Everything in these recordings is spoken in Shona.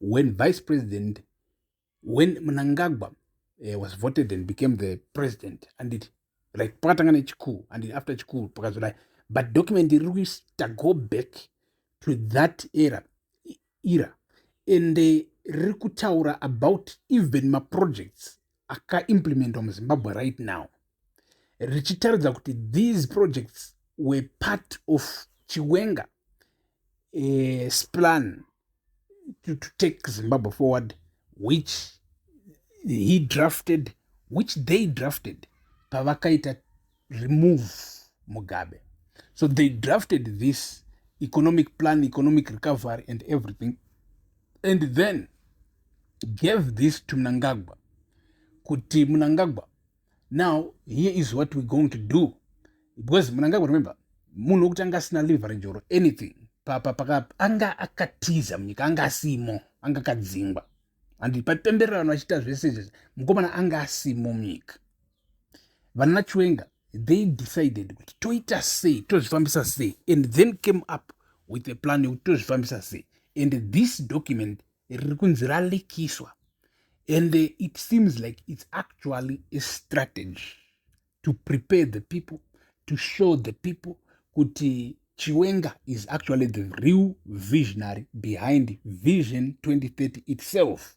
when vice president when mnangagwa uh, was voted and became the president anditi like pakatanga nechikuru anditi after chikuru pakazodai but document iri kuita go back to that era era and uh, riri kutaura about even maprojects akaimplementwa muzimbabwe right now richitaridza kuti these projects were part of chiwenga uh, splan to, to take zimbabwe forward which he drafted which they drafted pavakaita remove mugabe so they drafted this economic plan economic recovery and everything and then gave this to mnangagwa kuti mnangagwa now here is what we're going to do because mnangagwa remember munhu wekutanga asina leverage or anything papa paka anga akatiza munyika anga asimo anga akadzingwa and paipembererano achiita zvese izvezvi mukomana anga asimo munyika vana chiwenga they decided kuti toita sei tozvifambisa sei and then came up with a plan yekuti tozvifambisa sei and this document riri kunzi ralekiswa and uh, it seems like it's actually a strategy to prepare the people to show the people kuti chiwenga is actually the real visionary behind vision 2030 itself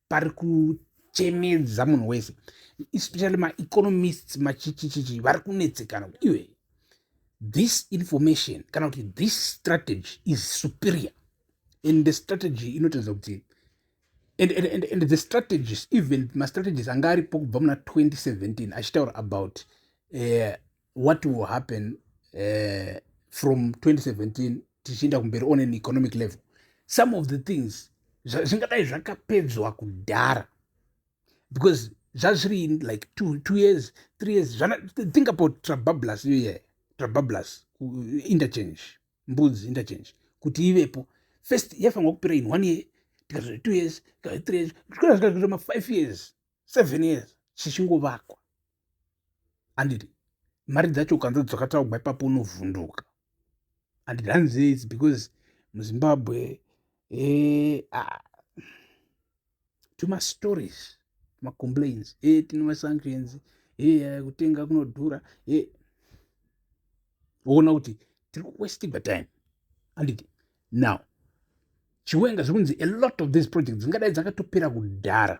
pari kuchemedza munhu wese especially maeconomists machichichichi vari kunetsekana kuti iwe this information kana kuti this strategy is superior and the strategy inotaridza kuti and, and, and, and the strategies even mastrategies anga aripo kubva muna 2017 achitaura about uh, what will happen uh, from 2017 tichienda kumberi on an economic level some of the things zvingadai zvakapedzwa kudhara because zvazviri in like two, two years three years Zana, think about trabablas iyo yeah. trabablas interchange mbudzi interchange kuti ivepo first yaifanirwa kupera in one year tikazoti two years tikazoti three years zvikora zvikazoita mafive years seven years zvichingovakwa anditi mari dzacho ukanza dzakataugwa ipapo unovhunduka anditi hanzi its because muzimbabwe eh, ah, tumastories macomplains e eh, tine masanctions e eh, kutenga kunodhura e woona kuti tiri kuwestigwa time anditi now chiwenga zvekunzi a lot of these projects dzingadai dzakatopera kudhara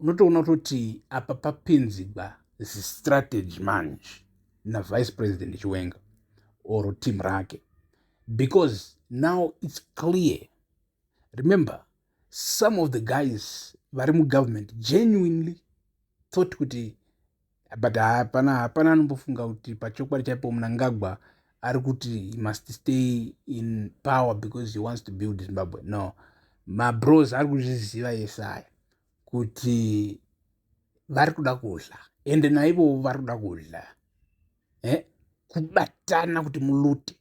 unotoona kutoti apa papinzigwa zistrategy manje navice president chiwenga or team rake because now it's clear remember some of the guys vari mugovernment genuinely thought kuti but hapana hapana anombofunga kuti pachokwadi chaipo munangagwa ari kuti he must stay in power because he wants to build zimbabwe no mabros ari kuzviziva yese aya kuti vari kuda kudla ende naivowo vari kuda kudla eh? kubatana kuti mulute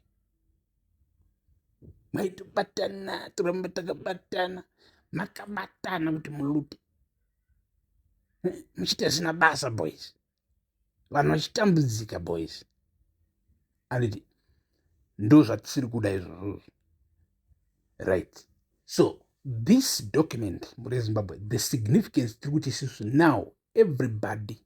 maitobatana toramba takabatana makabatana kuti mulute muchiti asina basa boys vanhu vachitambudzika boys anditi ndo zvatisiri kuda izvozvozvo right so this document mune zimbabwe the significance tiri kuti isusu now everybody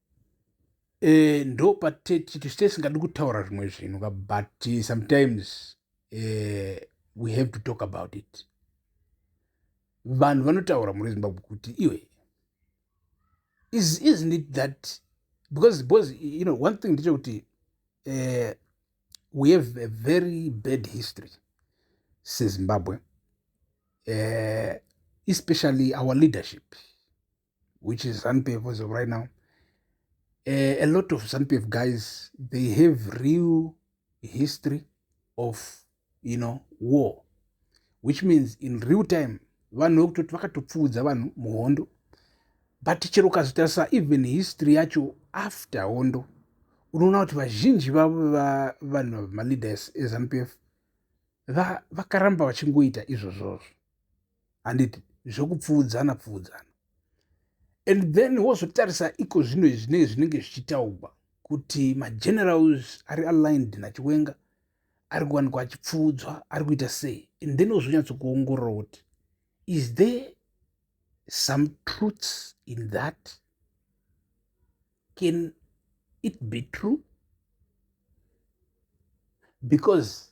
eh, ndo patechiti site singadi kutaura zvimwe zvinhu ka but eh, sometimes uh, we have to talk about it vanhu vanotaura muri zimbabwe kuti iwe is, isn't it that because because you know one thing ndechekuti uh, we have a very bad history sezimbabwe uh, especially our leadership which is ZANPF as of right now. Uh, a lot of ZANPF guys, they have real history of, you know, war, which means in real time, vanhu vekutoti vakatopfuudza vanhu muhondo but chero ukazotarisa even history yacho after hondo unoona kuti vazhinji vavo vanhu vamaleaders ezanupf vakaramba vachingoita izvozvozvo handiti zvekupfuudzana pfuudzana and then wozotarisa iko zvino zvine zvinenge zvichitaugwa kuti magenerals ari aligned nachiwenga ari kuwanikwa achipfuudzwa ari kuita sei and then wozonyatsokuongorora kuti is there some truths in that can it be true because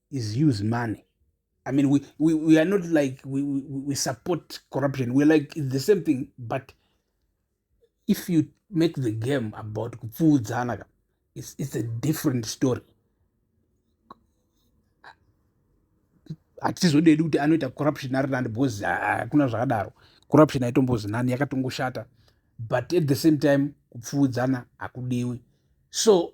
is use money i mean we, we, we are not like we, we, we support corruption we're like it's the same thing but if you make the game about kupfuudzana ka it's, it's a different story hatizodedi kuti anoita corruption ari nani because hakuna zvakadaro corruption haitombozi nani yakatongoshata but at the same time kupfuudzana hakudiwi so